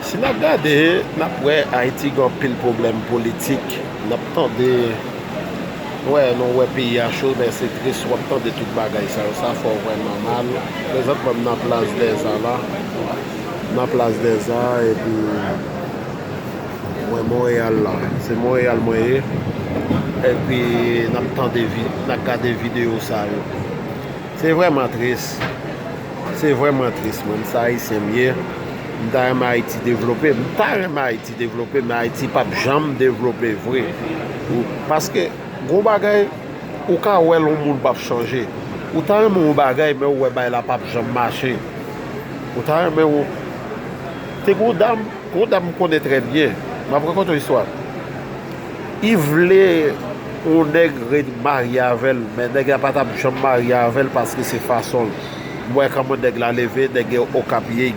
Si nap gade nap wè ayiti gen anpil pwoblèm politik nap tande wè nou wè peyi a cho men se tris wap tande tout bagay sa yo sa fè w vrèman mal prezantman m nan plas dèzan la nan plas dèzan epi mwen Montréal la se Montréal mwen ye epi nap tande nap gade video sa yo. Se vrèman tris, se vrèman tris moun sa ayisyen m ye, m ta renmen ayiti devlope, m ta renmen ayiti devlope men ayiti pap janm devlope vre paske gon bagay ou ka wè l yon moun pap chanje ou ta renmen yon bagay men ou wè bagay la pap janm mache ou ta renmen yon te gon dam Yon dam m konnen trè byen. M ap rakonte yon istwa. Li vle yon nèg ret marye avè l, men nèg la pa t ap janm marye avè l paske se fason l. M wè kòman nèg la leve, nèg yo Okap ye,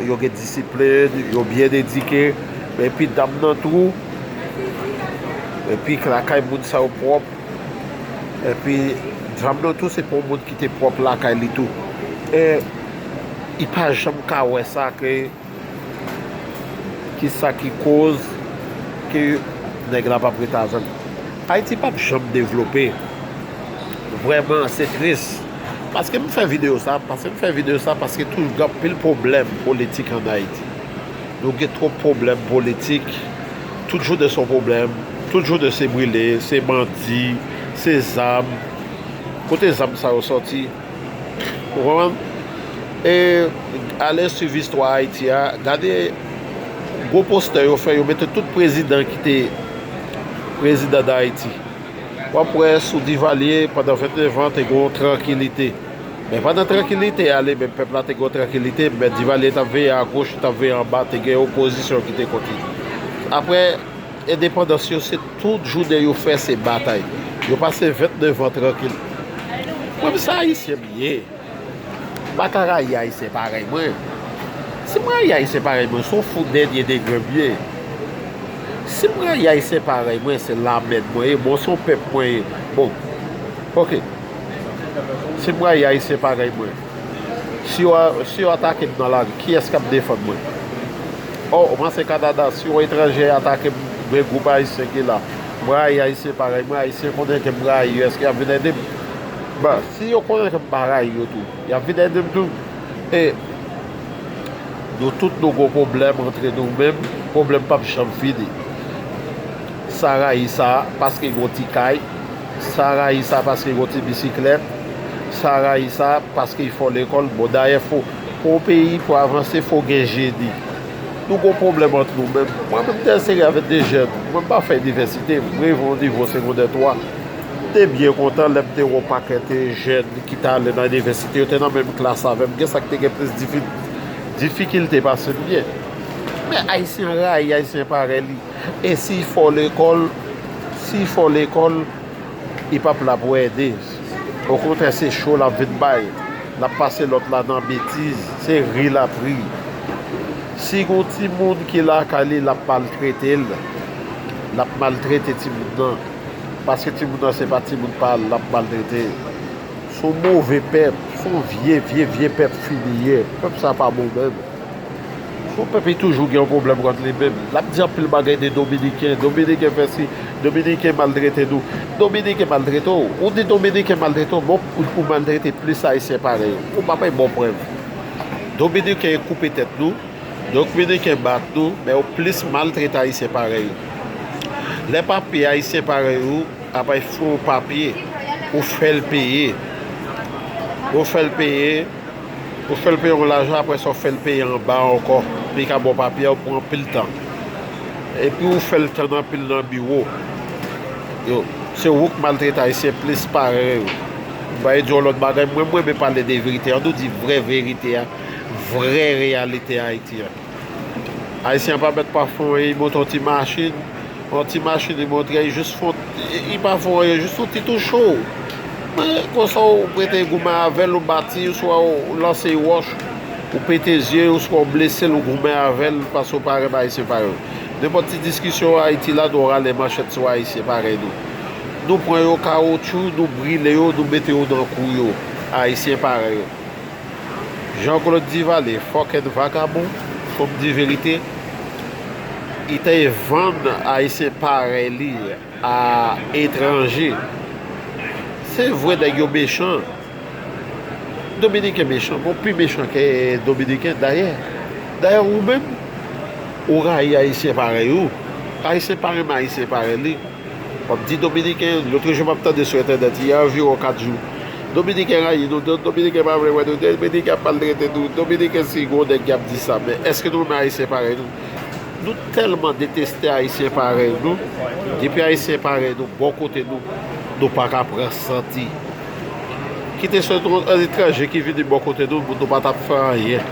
yo gen disiplin, yo byen edike. Men epi dam nan tou. Epi lakay moun sa yo pwòp. Epi dam nan tou se pa yon moun ki te pwòp lakay li tou. I pa janm ka wè sa ke kisa ki koz ke nèg la pap ret avèm Ayiti pap janm devlope vrèman se tris paske m fè video sa paske m fè video sa paske tou gen anpil pwoblèm politik an Ayiti nou gen twòp pwoblèm politik tout jounen son pwoblèm tout jounen se brile se bandi se zam kote zam sa yo sòti. Ou konprann? E ale swiv istwa Ayiti a, gade gwo postè yo fè, yo mete tout prezidan ki te prezidan Dayiti. W ap wè sou Divalye pandan 29 an te gen yon trankilite. Men pandan trankilite a li menm, pèp la te gen yon trankilite, men Divalye t ap veye agoch, li t ap veye anba, te gen opozisyon ki te kont li. Apre. Endepandans yo se tout jounen yo fè se batay yo pase 29 ans trankil mwen m se ayisyen m ye m pa ka rayi ayisyen parèy mwen si m rayi ayisyen parèy mwen se w fou dènye degre m ye si m rayi ayisyen parèy mwen se lamèd mwen ye bon se w pèp mwen ye bon ok si m rayi ayisyen parèy mwen. Si yo atake m nan lari, kiyès k ap defann mwen? O, ou panse Kanada, si yon etranjè atake m, men gwoup Ayisyen ki la, m rayi Ayisyen parèy mwen, Ayisyen konnen ke m rayi yo, èske y ap vin ede m? Bon, si yo konnen ke m pa rayi yo tou, y ap vin ede m tou? E, nou tout nou gen pwoblèm antre nou menm, pwoblèm p ap janm fini. Sa rayi sa, paske gen yon ti kay. Sa rayi sa paske gon ti bisiklèt sa rayi sa paske fò lekòl bon dayè fò pou yon peyi pou avanse fò gen jeni nou gon pwoblèm ant nou menm mwen menm te enseye avèk de jèn mwen m pa fè inivèsite m rive yon nivo segondè 3 m te byen kontan lè m te wè yon pakèt jèn ki t ale nan inivèsite yo te nan menm klas avè m gen sa ki te gen plis difikilte pase m gen men ayisyen rayi ayisyen parèy li. E si y fò lekòl, si y fò lekòl, li p ap la pou ede. Okontrè se cho l ap vin bay. L ap pase lòt la nan betiz, se ri l ap ri. Si gon timoun ki lakay li, l ap maltrete l. L ap maltrete timoun nan. Paske timoun nan se pa timoun pa l, l ap maltrete. S on move pèp, s on vye, vye, vye pèp fini ye. Pèp sa pa bon menm. Fo pèp e toujou gen yon pwoblèm kont li menm. L ap di anpil bagay de dominiken, dominiken fè si, dominiken maltrete nou, dominiken maltrete w. Ou di dominiken maltrete w, men ou maltrete plis ayisyen parèy ou. Ou pa bay bon prèv. Dominiken e koupe tèt nou, dokminiken bat nou, men ou plis maltrete ayisyen parèy ou. Lè papye ayisyen parèy ou a bay fo papye, ou fè l peye. Ou fè l peye. Ou fèl peye yon lajan aprè sa ou fèl peye anba ankò li ka baw papye pou anpil tan epi ou fèl tann anpil nan biwo yo se wouk maltrete ayisyen plis parèy ou m bay di yon lòt bagay mwen m renmen pale de verite an nou di vrè verite a vrè reyalite ayiti an. Ayisyen pa mèt pa fon anyen, li monte yon ti machin, yon ti machin li montre, li jis fon, li pa fon anyen, jis yon ti tou cho. Men, konsa ou mete goumen avè l, ou bati, oswa ou lanse yon wòch, ou pete zye l, oswa ou blese l, ou goumen avè l, paske ou pa renmen Ayisyen parèy ou. Nenpòt ti diskisyon Ayiti la, nou rale manchèt sou Ayisyen parèy nou. Nou pran yo kawotchou, nou brile yo, nou mete yo nan kou yo, Ayisyen parèy ou. Jean Claude Duvalier fòkèt vagabon fòk di verite li te vann ayisyen parèy li a etranje se vre nèg yo mechan dominiken mechan bon pi mechan ke dominiken dayè dayè ou menm ou rayi ayisyen parèy ou ayisyen pa renmen ayisyen parèy li. Wap di dominiken lotre jou map tande sou entènèt yè anviron 4 jou dominiken rayi nou dominiken pa vle wè nou dominiken ap maltrete nou dominiken si gwo nèg ki ap di sa men eske nou renmen ayisyen parèy nou nou tèlman deteste ayisyen parèy nou depi ayisyen parèy nou bò kote nou nou paka pran santi kite se yon etranje ki vini bò kote nou nou pa tap fè anyen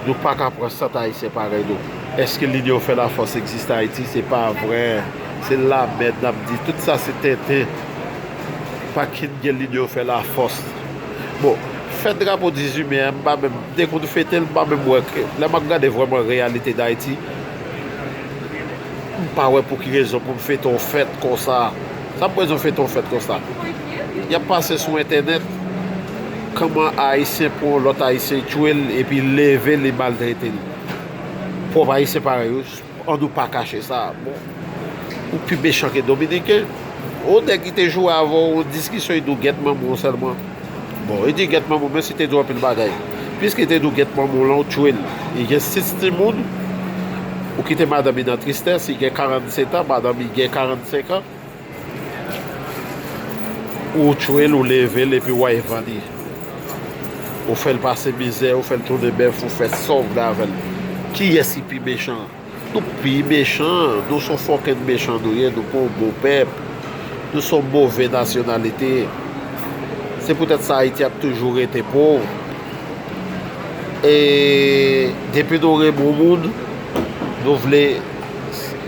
nou paka pran sant ayisyen parèy nou. Eske lide yo fè lafòs egziste ayiti se pa vrè se lamèd nap di tout sa se tenten pa kin gen lide yo fè lafòs bon fèt drapo 18 me a m pa menm m te konn fetel m pa menm wè lè map gade vrèman reyalite dayiti m pa wè pou ki rezon pou fete yon fèt konsa sa pou rezon fete yon fèt konsa yap pase sou entènèt kòman ayisyen pran yon lòt ayisyen tchwel epi leve li maltretel. Pwòp ayisyen parèy ou an nou pa kache sa bon ou pi mechan ke dominiken yon nèg ki te jwe avèw yon diskisyon li di w gèt manman w sèlman bon li di gèt manman w menm si li te di w anpil bagay piske li te di w gèt manman w lan ou tchwel li gen 6 timoun ou kite madanm li nan tristès li gen 47 an madanm li gen 45 an. Ou tchwel ou level epi way van li ou fel pase mizè ou fel tounen bef ou fe Saw vle avel kiyes ki pi mechan nou pi mechan nou son fokenn mechan nou ye nou pa yon bon pep nou son move nasyonalite se poutet sa ayiti ap toujou rete pov e depi nou renmen yon moun nou vle.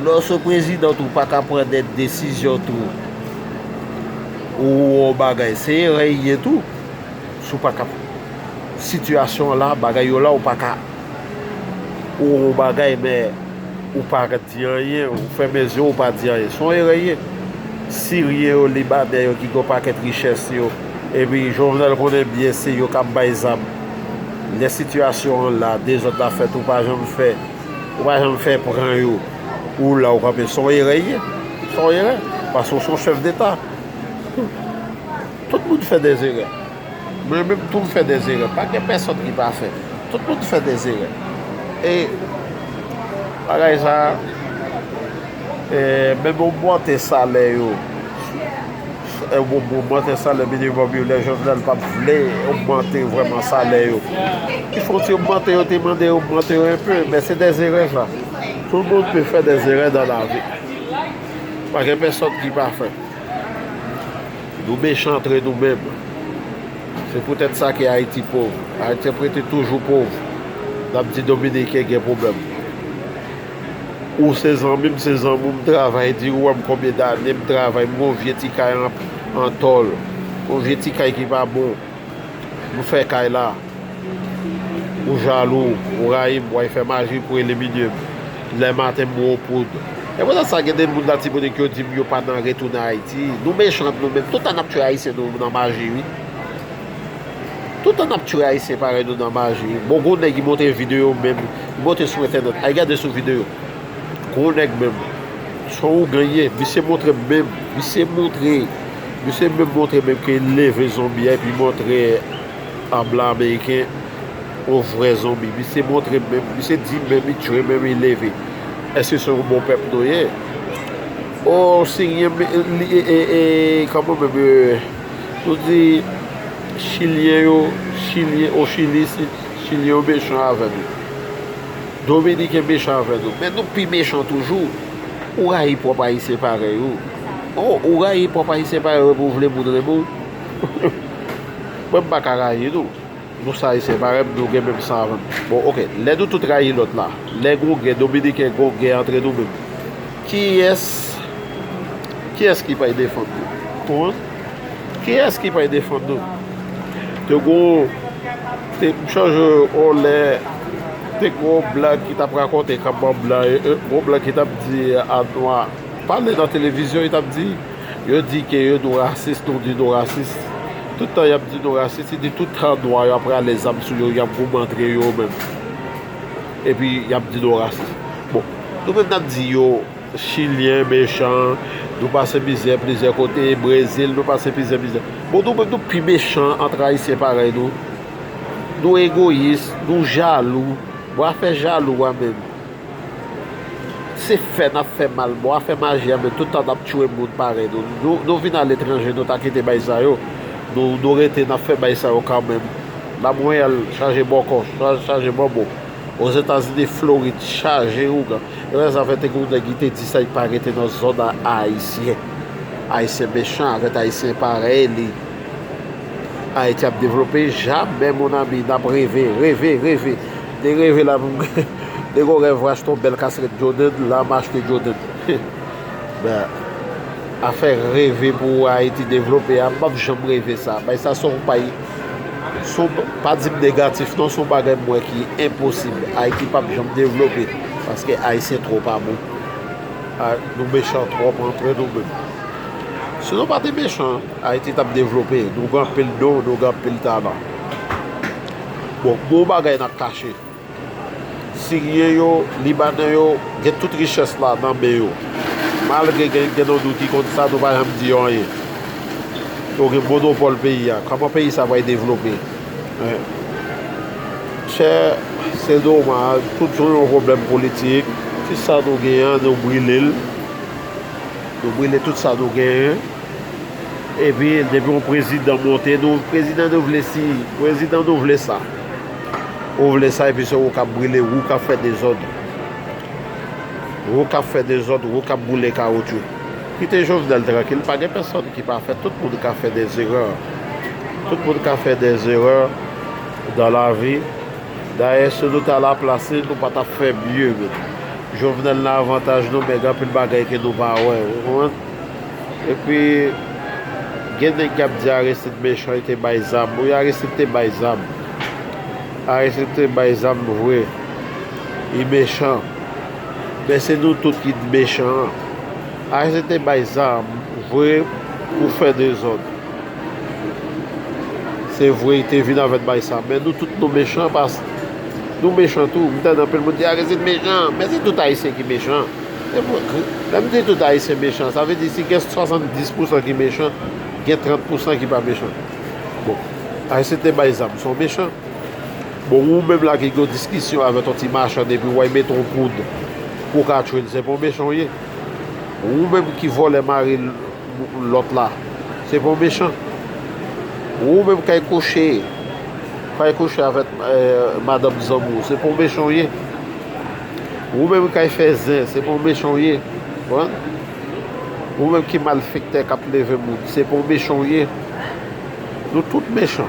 Lè w se prezidan tou pa ka pran de desizyon tou ou wè yon bagay se erè y ye tou si w pa ka sitiyasyon an la bagay yo la ou pa ka ou wè yon bagay men ou pa di anyen ou fèmen zye w ou pa di anyen se yon erè y ye siryen yo libanè yo ki gen yon pakèt richès yo epi jovenel konnen byen se yo k ap bay zam lè sitiyasyon an la dezòd la fèt ou pa janm fè. Ou pa janm fè pran yo pou ou la ou kanpe son erè ye son erè paske ou son chèf deta tout moun fè des erè mwen menm tou m fè des erè pa gen pèsòn ki pa fè tout moun fè des erè e bagay sa menm ogmante salè yo. Se yon bon ogmante salè minimum yo lè jovenel pat vle ogmante vreman salè yo il fo ti ogmante yo te mande yo ogmante yo enpe men se de zere sa tout moun pe fè de zere dan lavi pa gen pèsòn ki pafè nou mechan antre nou menm se pou tèt sa ke ayiti pov ayityen prete toujou pov nap di dominiken gen problem Ou se zanmi m se zanmi w m travay di ou wè m konbyen dane m travay m gen yon vye ti kay an tòl yon vye ti kay ki pa bon m fè kay la ou jalou ou rayi m wèy fè maji pou elimine m lè maten m bwè w poud e poutèt sa gen de moun latibonit yo di m yo pa nan retounen ayiti nou mechan nou menm toutan n ap tchwe ayisyen nou nan maji wi. Tout tan nap tchwe ayisyen parèy nou nan maji bon gwo nèg ki monte video menm ki monte sou entènèt al gade sou video gwo nèg menm son ougan li ye misye montre menm misye montre misye menm montre menm ke li leve zonbi a epi montre an blan ameriken yon vrè zonbi misye montre menm misye di menm li tchwe menm li leve eske se yon bon pèp nou ye o siryen menm li e e e kòman menm. Ou di chilyen yo chilyen o chili si chilyen yo mechan avè nou dominiken mechan avè nou men nou pi mechan toujou ou rayi pwòp ayisyen parèy ou o ou rayi pwòp ayisyen parèy ou epi ou vle moun renmen w mwen m pa ka rayi nou. Nou sa ayisyen pa renmn nou gen menm san avèm bon ok lè nou tout rayi lòt la lè gon gè dominiken gon gè antre nou menm kiyès kiyès ki pay defann nou konprann kiyès ki pay defann nou te gon te m chanje on lè te gon blan ki tap rakonte kap ban blan gon blan ki tap di a nwa pale nan televizyon li tap di. Yo di ke yo nou rasis, nou di nou rasis. Tout tan yap di nou rasis, se di tout tan nwa yo ap rale zam sou yo, yap goumen antre yo menm. Epi yap di nou rasis. Bon, nou menm nap di yo chilyen mechan, nou pase mizè plizyè kote, Brezil nou pase plizyè mizè. Bon nou menm nou pi mechan antre ayisyen parèy nou. Nou egoyis, nou jalou. Bon afè jalou a menm. Se fè nap fè mal bon afè maji a men tout tan nap tchwe moun parèy nou nou vin aletranje nou ta kite bay sa yo nou rete nap fè bay sa yo kanmenm la mwen wè al chaje bòkò chaje bòbo ozetazini florid chaje ougan epa zafè te gen yon nèg ki te di sa li pa rete nan zòn a ayisyen ayisyen mechan avèt ayisyen parèy li ayiti ap devlope jamè mon ami nap reve reve reve Te reve la menm Gen yon rèv rachte yon bèl kaskèt Jordan la m achte Jordan Men afè reve pou Ayiti devlope a m pap janm reve sa Bay sa son bay son pa di m negatif non son bagay m wè ki enposib Ayiti pap janm devlope paske Ayisyen twò pa bon Nou mechan twòp antre nou menm Si nou pa te mechan Ayiti tap devlope Nou gen anpil don nou gen anpil talan. Bon gwo bagay nap kache. Siryen yo, libanè yo gen tout richès la nan men yo. Malgre gen gen nan nou ki konn sa nou pa janm di yo anyen. Yo gen monopòl peyi a. Kòman peyi sa pral devlope? Men chè se domaj tout sou yon pwoblèm politik. Tout sa nou gen an nou brile l. Nou brile tout sa nou gen. Epi depi yon prezidan monte nou prezidan nou vle si prezidan nou vle sa ou vle sa epi se ou kap brile ou kap fè dezòd ou kap fè dezòd ou kap boule kawoutchou kite jovenel trankil pa gen pèsòn ki pafè tout moun ka fè dè zerè tout moun ka fè dè zerè dan lavi dayè si nou ta la plas li nou pa tap fè mye menm jovenel nan avantaj nou men gen anpil bagay ke nou pa wè ou konprann. Epi gen nèg kap di Aristide mechan li te bay zam wi Aristide te bay zam Aristide te bay zam vre li mechan men se nou tout ki t mechan an Aristide te bay zam vre pou fè dezòd se vre li te vin avèk bay sa men nou tout nou mechan pask nou mechan tou m tande anpil moun di Aristide mechan men se tout ayisyen ki mechan. Lè m di tout Ayisyen mechan, sa vle di si gen 70 pousan ki mechan, gen 30 pousan ki pa mechan. Bon, Ayisyen te bay zam, se yon mechan. Bon, ou menm la ki gen yon diskisyon avèk yon ti machann epi ou wè li mete yon poud pou w ka tchwe l, se pa yon mechan ou ye. Ou menm ki vòlè mari lòt la, se pa yon mechan. Ou menm kay kouche, kay kouche avèk madanm zanmi w, se pa yon mechan ou ye. Wou menm kay fè zen se pou mechan w ye Wou menm ki malfektè kap leve moun se pou mechan w ye Nou tout mechan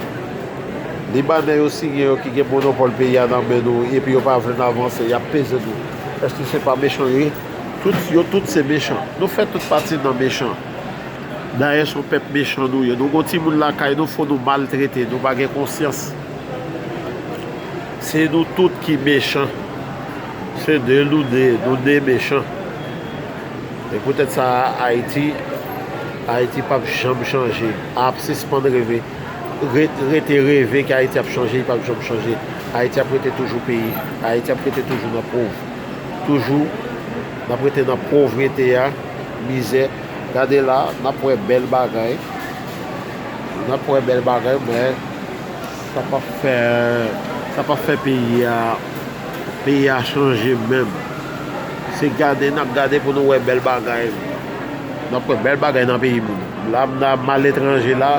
Libanè yo siyen yo ki gen monopòl peyi a nan men nou epi yo pa vle n avanse yap peze nou Èske se pa mechan yo ye Yo tout se mechan Nou fè tout pati nan mechan Dayè son pèp mechan nou ye Nou gon timoun lakay nou fò nou maltrete Nou pa gen konsyans. Se nou tout ki mechan. Se de nou de, nou de mechan. E pou tèt sa a Ayiti, Ayiti pap janm chanje. Ap sispann reve. Rete reve ke Ayiti ap chanje, li pap janm chanje. Ayiti ap rete toujou peyi. Ayiti ap rete toujou nan pov. Toujou n ap rete nan povrete a, mizè. Gade la, n ap wè bèl bagay. N ap wè bèl bagay, men. Sa pap fè sa pap fè peyi a peyi a chanje menm se gade nap gade pou nou wè bèl bagay nap wè bèl bagay nan peyi moun la m nan al etranje la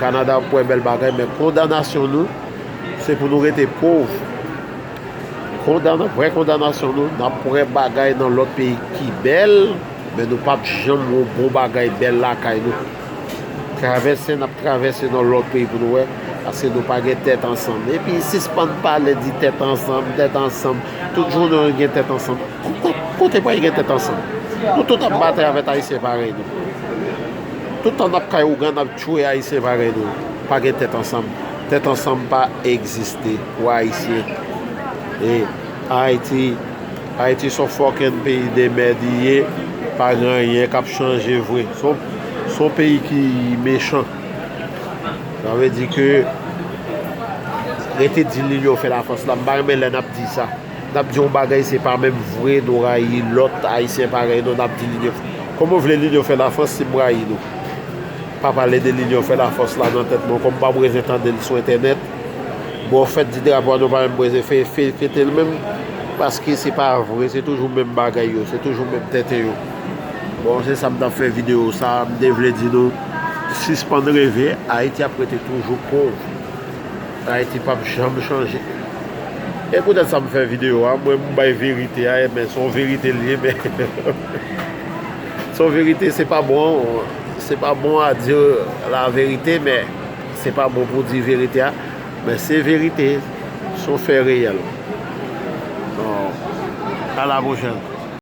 Canada wap wè bèl bagay men kondanasyon nou se pou nou rete pov kondan vrè kondanasyon nou nap wè bagay nan lòt peyi ki bèl men nou pap janm wè bon bagay bèl lakay nou. Travèse nap travèse nan lòt peyi pou nou wè paske nou pa gen tèt ansanm epi sispann pale di tèt ansanm tèt ansanm tout jounen nou gen tèt ansanm kote pou al gen tèt ansanm nou tout ap batay avèk ayisyen parèy nou tout tan nap kay ougan nap tchwe ayisyen parèy nou pa gen tèt ansanm tèt ansanm pa egziste pou ayisyen e ayiti. Haiti son fucking peyi de merd i ye pa gen anyen kap chanje vre son peyi ki mechan sa vle di ke rete di linyon fè la fòs la m pa renmen lè nap di sa nap di yon bagay se pa menm vre nou rayi lòt ayisyen parèy nou nap di linyon kòman vle linyon fè la fòs si m rayi nou pa pale de linyon fè la fòs la nan tèt mwen kòm m pap rete tandel sou entènèt. Bon fèt di drapo a nou pa menm breze fè fè ketel menm paske se pa vre se toujou menm bagay yo se toujou menm tenten yo bon se sa m tap fè video sa m te vle di nou sispann reve ayiti ap rete toujou pov ayiti pap janm chanje e pou tèt sa m fè video a mwen m bay verite a men son verite liye men son verite se pa bon se pa bon a di la verite men Se pa bon pou di verite a men se verite son fè reyèl ala bon jan.